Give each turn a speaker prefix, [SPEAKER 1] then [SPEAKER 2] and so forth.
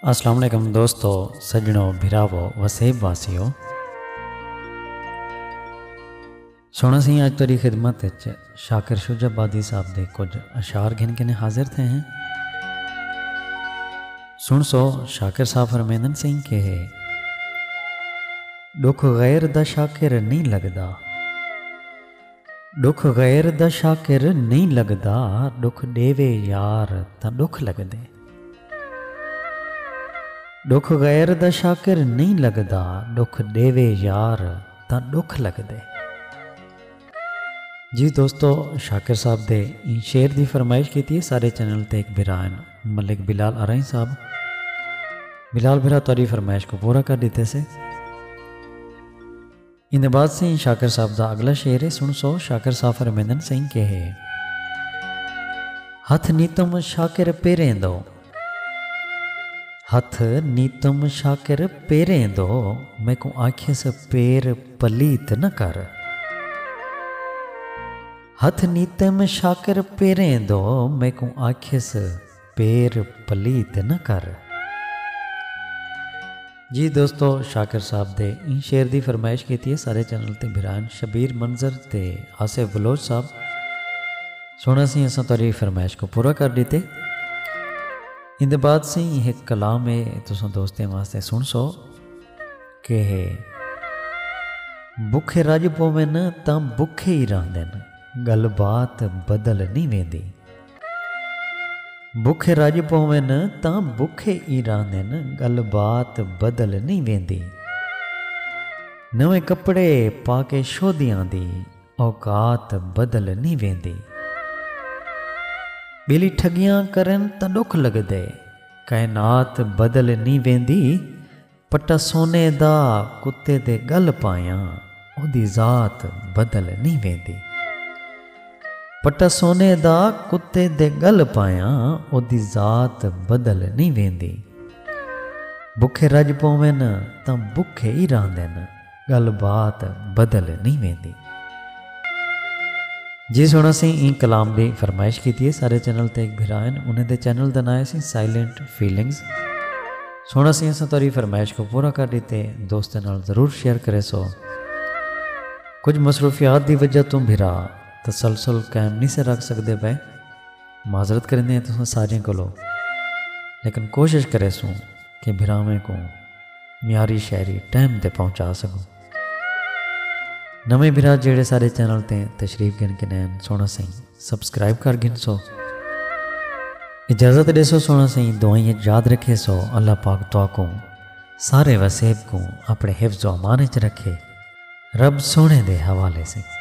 [SPEAKER 1] السلام علیکم دوستو سجنو بھراو وسیب واسیو سونا سی آج تری خدمت شاکر شجا بادی صاحب دے کچھ اشعار گھن کے نے حاضر تھے ہیں سن سو شاکر صاحب فرمیندن سنگھ کے ہے دکھ غیر دا شاکر نہیں لگدا ݙکھ غیر دا شاکر نئیں لڳدا ݙکھ ݙیوے یار تاں ݙکھ لڳدے۔ ݙکھ غیر دا شاکر نئیں لڳدا ݙکھ ݙیوے یار تاں ݙکھ لڳدے۔ جی دوستو شاکر صاحب دے ایں شعر دی فرمائش کیتی ہے سارے چینل تے ایک بھرا ہیں ملک بلال ارائیں صاحب بلال بھرا تہاڈی فرمائش کو پورا کر ݙتے سے۔ ایندے بعد سئیں شاکر صاحب دا اگلا شعر ہے سن سو شاکر صاحب فرمیندن سئیں کہے۔ ہتھ نیتم شاکر پیریں دو۔ ہتھ نیتم شاکر پیریں دو۔ میکوں آکھیس پیر پلیت نہ کر۔ ہتھ نیتم شاکر پیریں دو۔ میکوں آکھیس۔ پیر پلیت نہ کر۔ جی دوستو شاکر صاحب دے ایں شعر دی فرمائش کیتی ہے سارے چینل تے بھران شبیر منظر تے آصف بلوچ صاحب سونا سی اساں تہاڈی فرمائش کو پورا کر ڈیتے ایندے بعد سی ہک کلام ہے تساں دوستیں واسطے سن سو کہ ہے بکھے رج پوویں تاں بکھے ہی رہندن گل بات بدل نہیں ویندی۔ بکھے رڄ پوون تاں بکھے ای رہندن ڳل بات بدل نئیں ویندی نویں کپڑے پاکے شودیاں دی اوقات بدل نئیں ویندی ٻیلی ٹھڳیاں کرن تاں ݙکھ لڳدے کائنات بدل نئیں ویندی پٹا سونے دا کتے دے ڳل پایاں اودی ذات بدل نی ویندی۔ پٹا سونے دا کتے دے ڳل پایاں اودی ذات بدل نی ویندی۔ بکھے رڄ پوون تاں بکھے ای رہندن۔ گالھ بات بدل نہیں ویندی۔ جی سن اسیں ایں کلام دی فرمائش کیتی ہے سارے چینل تے ایک بھرا ہن انہیں دے چینل دا نائے سی سائلنٹ فیلنگز سن اسیں اساں تاری فرمائش کو پورا کر دیتے دوستیں نال ضرور شیئر کرے سو کچھ مصروفیات دی وجہ توں بھرا تسلسل قائم نہیں سے رکھ سکتے پے معذرت کریں دے ہیں تساں سارے کو لو لیکن کوشش کرے سوں کہ بھراویں کو معیاری شاعری ٹائم تے پہنچا سگوں۔ نویں بھرا جیڑھے ساڈے چینل تے تشریف گھن کے نین سونا سئیں سبسکرائب کر گھن سو۔ اجازت ڈیسو سونا سئیں دعائیں اچ یاد رکھے سو اللہ پاک تواکوں سارے وسیب کوں اپنے حفظ و امان اچ رکھے رب سونے دے حوالے سئیں۔